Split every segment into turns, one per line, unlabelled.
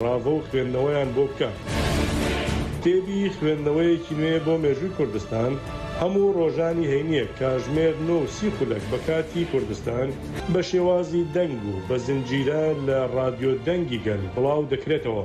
ڕاڤە و خوێندنەوەیان بۆ بکە. کتێبی خوێندنەوەیەکی نوێ بۆ مێژووی کوردستان، هەموو ڕۆژانی هەینییەک کاژمێر نۆ و سی خولەک بە کاتی کوردستان، بە شێوازی دەنگ و بە زنجیرە لە ڕادیۆ دەنگی گەل بڵاو دەکرێتەوە.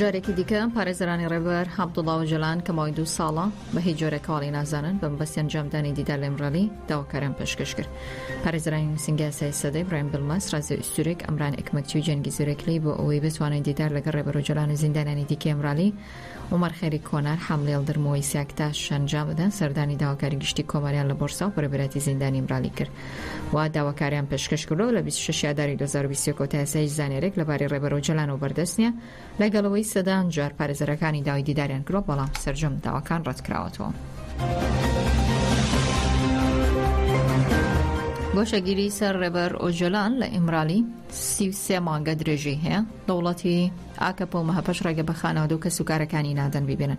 جارێکی دیکە پارێزرانی ڕێبەر عبدوڵا و جلان کە ماوەی دوو ساڵە بە هیچ جۆرە کاڵی نازانن بە مەبەستی ئەنجامدانی دیدار لێمڕەلی داواکاران پێشکەش کرد پارێزرانی نووسنگاسای سەدەی برایم بلمەس ڕازی ئوستورێک ئەمران ئەکمەکچی و جەنگی زورێکلی بۆ ئەوەی بتوانێت دیدار لەگەڵ ڕێبەر و جلان و زیندانانی دیکەی ئەمرالی عومەر خەیری کۆنار، حەمڵی یڵدرم و وەیسی ئەکتاش شەنجامەدان سەردانی داواکاری گشتی کۆماریان لە بۆرسا و بەرەبەرایەتی زیندانی ئیمرالی کرد و داواکاریان پێشکەشکردوە و لە بیست و شەش ی ئاداری دوو هەزار و بیست و یەک ەوە تا ئێستا هیچ زانیاریەک لەبارەی رێبەر ئۆجەلانەوە بەردەست نیە لەگەڵ ئەوەی سەدان جار پارێزەرەکانی داوای دیداریان کردوە بەڵام سەرجەم داواکان رەتکراوەتەوە. گۆشەگیری سەر رێبەر ئۆجەلان لە ئیمرالی سی و سێ مانگە درێژەی هەیە، دەوڵەتی. ئاکەپە و مەهەپەش ڕێگە بە خانەوادە و کەسوکارەکانی نادەن بیبینن.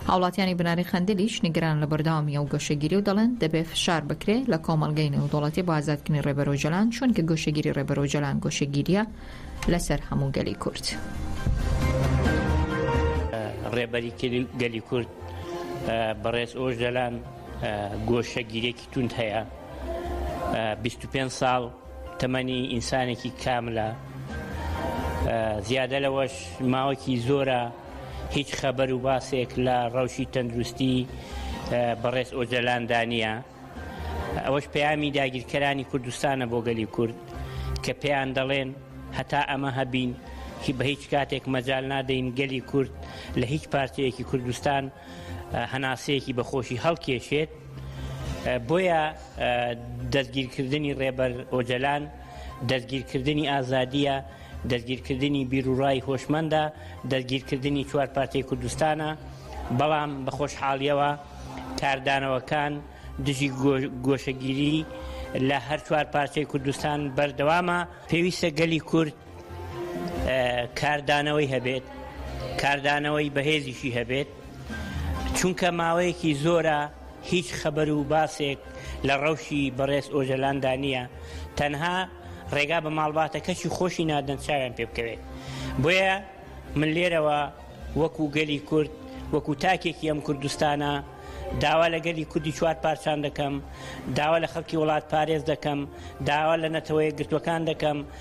هاوڵاتیانی بناری قەندیلیش نیگەرانن لە بەردەوامی ئەو گۆشەگیری و دەڵێن، دەبێ فشار بکرێ لە کۆمەڵگەی نێودەوڵەتی بۆ ئازادکردنی ڕێبەر ئۆجەلان، چوونکە گۆشەگیری ڕێبەر ئۆجەلان گۆشەگیرییە لەسەر هەموو گەلی کورد.
ڕێبەری گەلی کورد بەڕێز ئۆژدەلان گۆشەگیرێکی توند هەیە 25 ساڵ تەمەنی ئینسانێکی کاملە زیادە لەوەش ماوەکی زۆرە هیچ خەبەر و باسێک لە ڕەوشی تەندروستی بەڕێز ئۆجەلاندا نییە ئەوەش پەیامی داگیرکەرانی کوردستانە بۆ گەلی کورد کە پێیان دەڵێن هەتا ئەمە هەبین هی بە هیچ کاتێک مەجال نادەین گەلی کورد لە هیچ پارچەیەکی کوردستان هەناسەیەکی بەخۆشی هەڵکێشێت بۆیە دەستگیرکردنی ڕێبەر ئۆجەلان دەستگیرکردنی ئازادیە دەستگیرکردنی بیرروڕای هۆشمەندە دەستگیرکردنی چوار پارتی کوردستانە بەڵام بە خۆشحاڵیەوە کاردانەوەکان دژی گۆشەگیری لە هەر چوار پارچەی کوردستان بەردەوامە پێویستە گەلی کورد کاردانەوەی هەبێت کاردانەوەی بەهێزیشی هەبێت چونکە ماوەیەکی زۆرە هیچ خەبەر و باسێک لە ڕەوشی بەڕێز ئۆجەلاندا نییە تەنها ڕێگا بە ماڵباتە کەچی خۆشی نادەن چاویان پێ بکەوێت بۆیە من لێرەوە وەکو گەلی کورد وەکو تاکێکی ئەم کوردستانە داوا لە گەلی کوردی چوار پارچان دەکەم داوا لە خەڵکی وڵات پارێز دەکەم داوا لە نەتەوەیە گرتوەکان دەکەم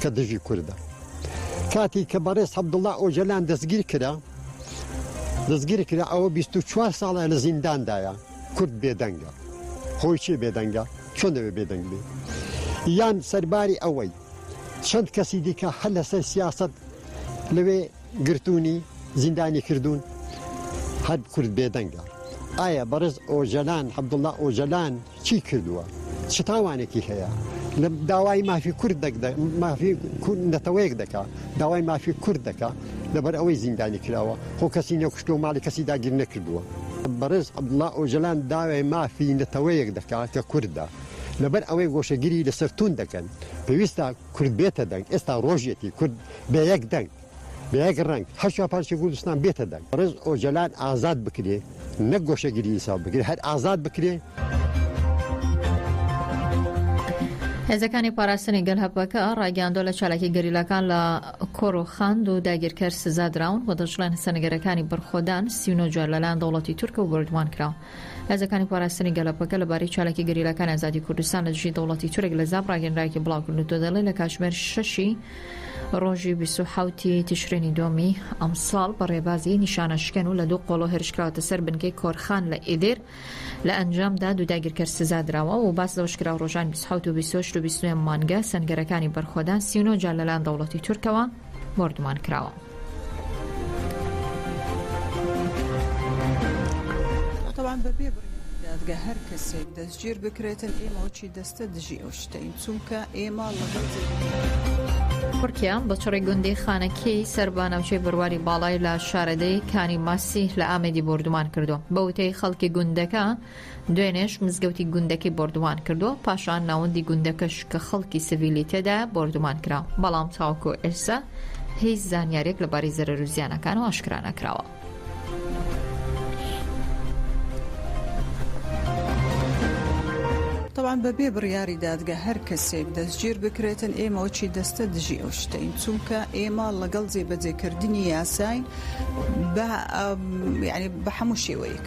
کە دژی کوردە کاتی کە بەڕێز عبدله ئۆجەلان دەستگیر کرا دەستگیر کرا ئەوە 24 ساڵە لە زینداندایە کورد بێدەنگە خۆی چێ بێدەنگە چۆن دەوێ بێدەنگ بێ یان سەرباری ئەوەی چەند کەسی دیکە هەر لەسەر سیاست لەوێ گرتوونی زیندانی کردوون هەر کورد بێدەنگە ئایا بەڕێز ئۆجەلان عبدله ئۆجەلان چی کردووە چ تاوانێکی هەیە لە داوای مافی کورد مافی کورد نەتەوەیەک دەکا داوای مافی کورد دەکا لەبەر ئەوەی زیندانی کراوە خۆ کەسی نەکوشتۆ ماڵی کەسی داگیر نەکردووە بەڕێز عبدله ئۆجەلان داوای مافی نەتەوەیەک دەکات کە کوردە لەبەر ئەوەی گۆشەگیری لەسەر تون دەکەن پێویستە کورد بێتە دەنگ ئێستا ڕۆژێکی کورد بە یەک دەنگ بە یەک ڕەنگ هەر چوار پارچەی کوردستان بێتە دەنگ بەڕێز ئۆجەلان ئازاد بکرێ نەک گۆشەگیری ئینساف بکرێ هەر ئازاد بکرێ.
هێزەکانی پاراستنی گەل هەپەکە ڕاگەیاندۆ لە چالاکی گەریلاکان لە کۆرۆخاند و داگیرکەر سزا دراون و دەشڵێن سەنگەرەکانی بەرخۆدان سیونۆجار لەلایەن دەوڵەتی تورکە و بردومان کراوە هێزەکانی پاراستنی گەلەپەکە لەبارەی چالاکی گەریلاکانی ئازادی کوردستان لە دژی دەوڵەتی تورک لە زاپ ڕاگەنراوێکی بڵاوکردووتە دەڵێ لە کاتژمێر شەشی ڕۆژی 27 ی تشرینی دۆمی ئەمساڵ بە ڕێبازی نیشانە شکەن و لە دوو قۆڵۆ هێرشکراوەتە سەر بنکەی کۆرخان لە ئیدێر لە ئەنجامدا دوو داگیرکەر سزا دراوە و باس لەوەش کرا ڕۆژان 27 و 28 و 29 مانگە سەنگەرەکانی بەرخۆدان 39 جار لەلایەن دەوڵەتی تورکەوە بۆردومان کراوە.
تورکیا
بە چڕی گوندی خانەکیی سەر بە ناوچەی بەرواری باڵای لە شارەدێی کانی ماسیه لە ئامێدی بۆردومان کردووە. بە وتەی خەڵکی گوندەکە، دوێنێش مزگەوتی گوندەکەی بۆردومان کردووە، پاشان ناوەندی گوندەکەش کە خەڵکی سڤیلی تێدایە بۆردومان کرا، بەڵام تاوەکو ئێستا هیچ زانیارییەک لەبارەی زەرەر و زیانەکانەوە ئاشکرا نەکراوە.
تەبعەن بەبێ بڕیاری دادگە هەر کەسێک دەستگیر بکرێتن ئێمە وەکی دەستە دژی ئەو شتەین چونکە ئێمە لەگەڵ جێبەجێکردنی یاساین بە یعنی بە هەموو شێوەیەک.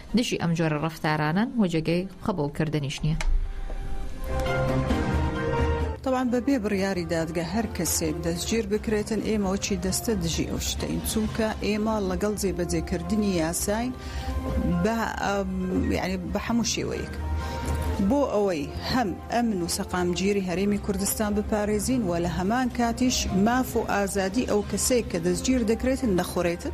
دژی ئەم جۆرە ڕەفتارانەن و جێگەی قبوڵکردنیش نییە.
تەبعەن بە بێ بڕیاری دادگە هەر کەسێک دەستگیر بکرێتن ئێمە وەکی دەستە دژی ئەو شتەین چونکە ئێمە لەگەڵ جێبەجێکردنی یاساین بە یعنی بە هەموو شێوەیەک. بۆ ئەوەی هەم ئەمن و سەقامگیری هەرێمی کوردستان بپارێزین و لە هەمان کاتیش ماف و ئازادی ئەو کەسێک کە دەستگیر دەکرێتن نەخورێتن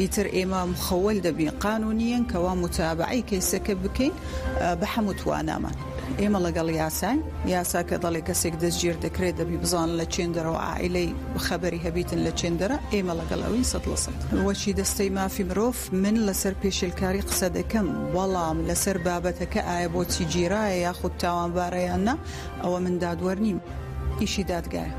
ئیتر ئێمە مخول دەبین قانونیەن کەوا متابعەی کەیسەکە بکەین بە حەموو توانامان ئێمە لەگەڵ یاساین یاسا کە دەڵێ کەسێک دەستگیر دەکرێت دەبی بزان لە چێندەرەوە عیلەی خەبەری هەبیتن لە چێندەرە ئێمە لەگەڵ ئەوین سەد لە سەد وەچی دەستەی مافی مرۆڤ من لەسەر پێشێلکاری قسە دەکەم بەڵام لەسەر بابەتەکە ئایا بۆچی گیرایە یاخود تاوانبارە یان نا ئەوە من دادوەر نیم ئیشی دادگایە.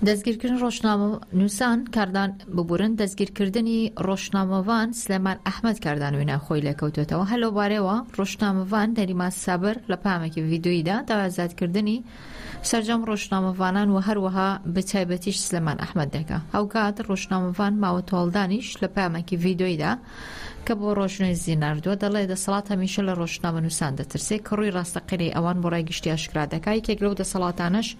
دەستگیرکردنی ڕۆژنامەنووسان، کاردان ببورن، دەستگیرکردنی ڕۆژنامەڤان سلێمان ئەحمەد کاردان وینا خۆی لێکەوتووەتەوە، هەر لەوبارەیەوە ڕۆژنامەڤان نەریمان سابر لە پەیامێکی ڤیدیۆییدا داوای ئازادکردنی سەرجەم ڕۆژنامەڤانان و هەروەها بە تایبەتیش سلێمان ئەحمەد دەکا. هاوکات ڕۆژنامەڤان ماوە تۆڵدانیش لە پەیامێکی ڤیدیۆییدا کە بۆ ڕۆژنێوزی ناردووە دەڵێ دەسەڵات هەمیشە لە ڕۆژنامەنووسان دەترسێ کە ڕووی ڕاستەقینەی ئەوان بۆ ڕای گشتی ئاشکرا دەکا، یەکێک لەو دەسەڵاتانەش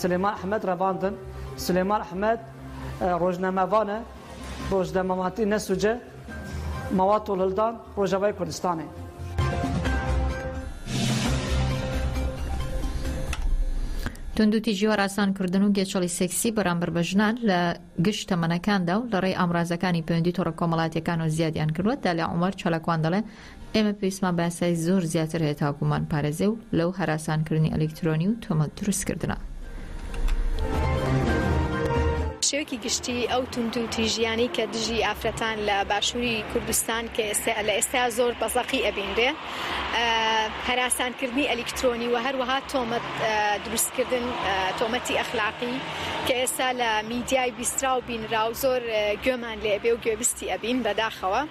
سلێمان ئەحمەد رەباندن سلێمان ئەحمەد رۆژنامەڤانە رۆژنەمەماتی نەسوجە مەواد تۆڵلدان رۆژەڤای کوردستانێ.
توندوتیژی هەراسان کردن و گێچەڵی سێکسی بەرامبەر بە ژنان لە گشت تەمەنەکاندا و لەڕێی ئامرازەکانی پەیوەندی تۆڕە کۆمەڵاتیەکانەوە زیادیان کردووە دالیا عومەر چالاکوان دەڵێ ئێمە پێویستمان بە یاسای زۆر زیاتر هەیە تا بمانپارێزێ و لەو هەراسانکردنی ئەلیکترۆنی و تۆمەت دروستکردنە.
شێوەکی گشتی ئەو توندوتیژیانەی کە دژی ئافرەتان لە باشووری کوردستان کە ئێستا لە ئێستا زۆر بەزەقی ئەبینرێ هەراسانکردنی ئەلیکترۆنی و هەروەها تۆمەت دروستکردن تۆمەتی ئەخلاقی کە ئێستا لە میدیای بیسترا و بینرا و زۆر گوێمان لێبێ و گوێبیستی ئەبین بەداخەوە.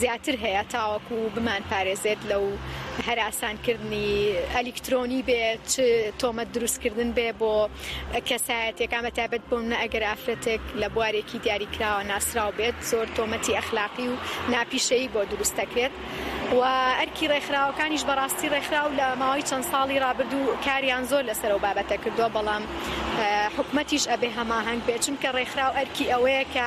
زیاتر هەیە تاوەکو بمانپارێزێت لەو هەراسانکردنی ئەلیکترۆنی بێ چ تۆمەت دروستکردن بێ بۆ کەسایەتەکان بە تابەت بۆم نە ئەگەر ئافرەتێک لە بوارێکی دیاریکراوە ناسرااو بێت زۆر تۆمەتی ئەخلاقی و ناپیشەیی بۆ دروست دەکرێت و ئەرکی ڕێکخراوەکانیش بەڕاستی ڕێکخراو لە ماوەی چەند ساڵی رابردوو کاریان زۆر لەسەر و بابەتە کردووە بەڵام حکومەتیش ئەبێ هەماهنگ بێ چونکە ڕێکخراو ئەرکی ئەوەیە کە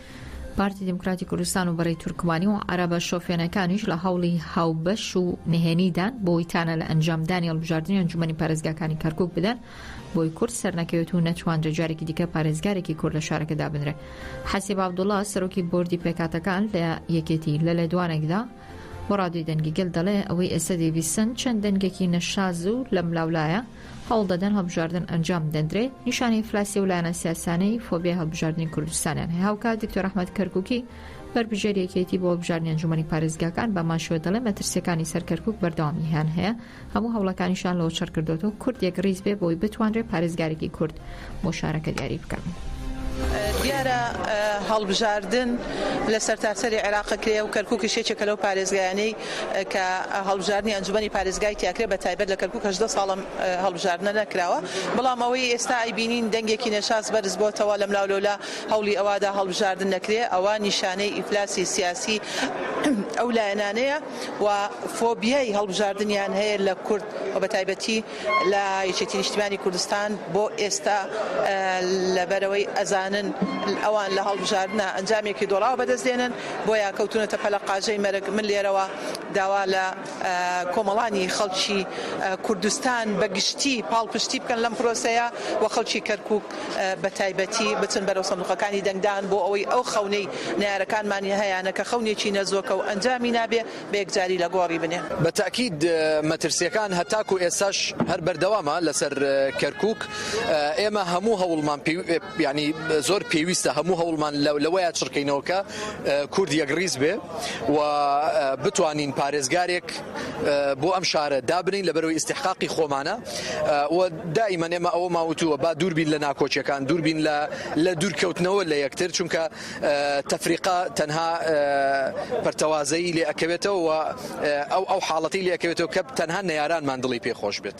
پارتی دیموکراتی کوردستان و بەرەی تورکمانی و عەرەبە شۆفێنەکانیش لە هەوڵی هاوبەش و نهێنیدان بۆی تانە لە ئەنجامدانی هەڵبژاردنی ئەنجومەنی پارێزگاکانی کەرکک بدەن بۆی کورد سەرنەکەوێت و نەتوانرێت جارێکی دیکە پارێزگارێکی کورد لە شارەکەدا بنرێت حەسیب عەبدوڵڵا سەرۆکی بۆردی پێکاتەکان لە یەکێتی لە لێدوانێکدا بۆ ڕادیۆی دەنگی گەل دەڵێ، ئەوەی ئێستا دەیبیسن چەند دەنگێکی نەشاز و لەملاولایە، هەوڵ دەدەن هەڵبژاردن ئەنجام بدەندرێ، نیشانەی ئیفلاسی ئەو لایەنە سیاسانەی فۆبیای هەڵبژاردنی کوردستانیان هەیە. هاوکات دکتۆر ئەحمەد کەرکووکی، بەربژێری یەکێتی بۆ هەڵبژاردنی ئەنجوومەنی پارێزگاکان بەهەمان شێوە دەڵێ، مەترسییەکانی سەر کەرکووک بەردەوامییان هەیە، هەموو هەوڵەکانیشیان لەوچڕ کردۆتەوە کورد یەک ڕیز بێ بۆی بتوانرێ پارێزگارێکی کورد بۆ شارەکە دیاری بکەن. دیارە
هەڵبژاردن لە سەرتاسەری عێراق کرێ و کەرکوکیش یەکێکە لەو پارێزگایانەی کە هەڵبژاردننی ئەنجومی پارێزگای تیاکرێ بە تایبەت لە کەرکک هەژدە ساڵم هەڵبژاردنە نەکراوە بەڵام ئەوەی ئێستا ئەیبینین دەنگێکی نەشاز بەرز بۆتەوە لەم لاو لەولا هەوڵی ئەوادا هەڵبژاردن نەکرێ ئەوە نیشانەی ئیفلاسی سیاسی ئەو لایەنانەیە. و فۆبیای هەڵبژاردنیان هەیە لە کورد و بەتایبەتی لە یەکێتی نیشتیمانی کوردستان بۆ ئێستا لەبەرەوەی ئەزانن ئەوان لە هەڵبژاردنە ئەنجامێکی دۆڕاو بەدەست دێنن بۆیە کەوتونەتە پەلە قاژەی مەرگ من لێرەوە داوا لە کۆمەڵانی خەڵکی کوردستان بە گشتی پاڵپشتی بکەن لەم پرۆسەیە و خەڵکی کەرکوک بە تایبەتی بچن بەرەو سندوقەکانی دەنگدان بۆ ئەوەی ئەو خەونەی نەیارەکانمانی هەیانە کە خەونێکی نەزۆکە و ئەنجامی نابێ بە یەکجاری لە گۆڕی بنێ. بە تەئکید
مەترسیەکان هەتاکو ئێستاش هەر بەردەوامە لەسەر کەرکوک ئێمە هەموو هەوڵمان یانی زۆر پێویستە هەموو هەوڵمان لەوەیە چڕکەینەوە کە کورد یەکڕیز بێ و بتوانین پارێزگارێک بۆ ئەم شارە دابنین لە بەرەوەی ئیستحقاقی خۆمانە و دائیمەن ئێمە ئەوە ماوتووە با دووربین لە ناکۆکیەکان دووربین لە لە دوورکەوتنەوە لە یەکتر چونکە تەفریقا تەنها پەرتەوازەیی لێ ئەکەوێتەوە ئەو ئەو حاڵەتی لێکەوێتەوە کە تەنها نەیارانمان دڵی پێ خۆش بێت.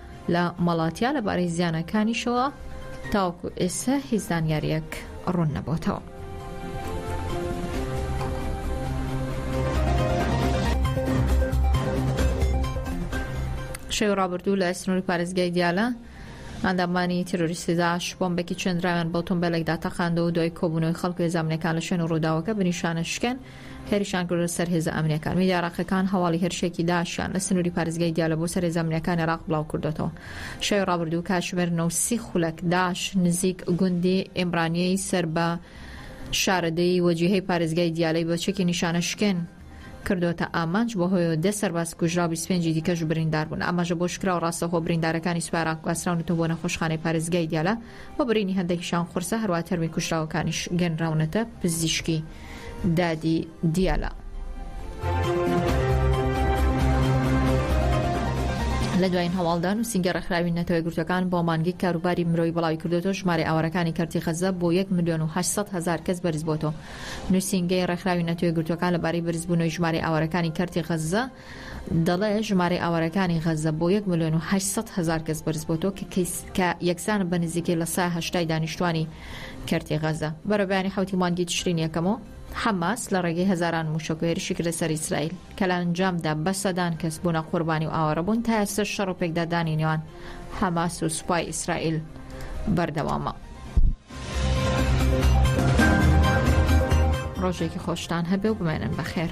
لە مەڵاتیا لەبارەی زیانەکانیشەوە تاوەکو ئێستا هیچ زانیاریەک ڕوون نەبووتەوە. شەوی ڕابردوو لە سنووری پارێزگای دیالە ئەندامانی تیرۆریستی داعش بۆمبێکی چێندراویان بۆ تۆمبێلێکدا تەقاندەوە و دوای کۆبوونەوەی خەڵک لێزانامەکان لە شوێن و ڕووداوەکە بنیشانە شکێن هێرشیان کردە سەر هێزە ئەمنییەکان. میدیا عێراقییەکان هەواڵی هێرشێکی داعشیان لە سنووری پارێزگای دیالە بۆ سەر هێزە ئەمنییەکانی عێراق بڵاوکردووەتەوە. شەوی ڕابردوو کاتژمێر نۆ و سی خولەک، داعش نزیک گوندی ئیمرانییەی سەر بە شارەدێی وەجیهەی پارێزگای دیالەی بە چەکی نیشانەشکێن کردووەتە ئامانج، بەهۆیەوە دە سەرباز کوژرا و بیست و پێنجی دیکەش بریندار بوون. ئاماژە بەوەشکراوە، ڕاستەوخۆ بریندارەکانی سوپای عێراق گواستراونەتەوە بۆ نەخۆشخانەی پارێزگای دیالە و برینی هەندێکیشیان قورسە، هەروەها تەرمی کوژراوەکانیش گەنراونەتە پزیشکی. دادی دیالە. لە دوایین هەواڵدان و سینگە ڕێکخراوی نەتەوە گرتوەکان بۆ مانگی کاروباری مرۆی بڵاوی کردوەوە ژمارە ئاوارەکانی کەرتی غەزە بۆ 1 ملیۆن و 800 هزار کەس بەرزبۆتەوە نووسینگەی ڕێکخراوی نەتەوە گرتوەکان لەبارەی بەرزبوونەوەی ژمارەی ئاوارەکانی کەرتی غەزە دەڵێت ژمارەی ئاوارەکانی غەززە بۆ یەک ملیۆن و هەشت سەد هەزار کەس بەرزبۆتەوە کە یەکسانە بە نزیکەی لە سا هەشتای دانیشتوانی کەرتی غەززە. بەرەبەیانی حەوتی مانگی تشرینی یەکەمەوە، حەماس لە ڕێگەی هەزاران مووشەک و هێرشی کردە سەر ئیسرائیل، کە لە ئەنجامدا بە سەدان کەس بوونە قوربانی و ئاوارەبوون، تا ئێستەش شەڕ و پێکدادانی نێوان حەماس و سوپای ئیسرائیل بەردەوامە. ڕۆژێکی خۆشتان هەبێ و بمێنن بەخێر.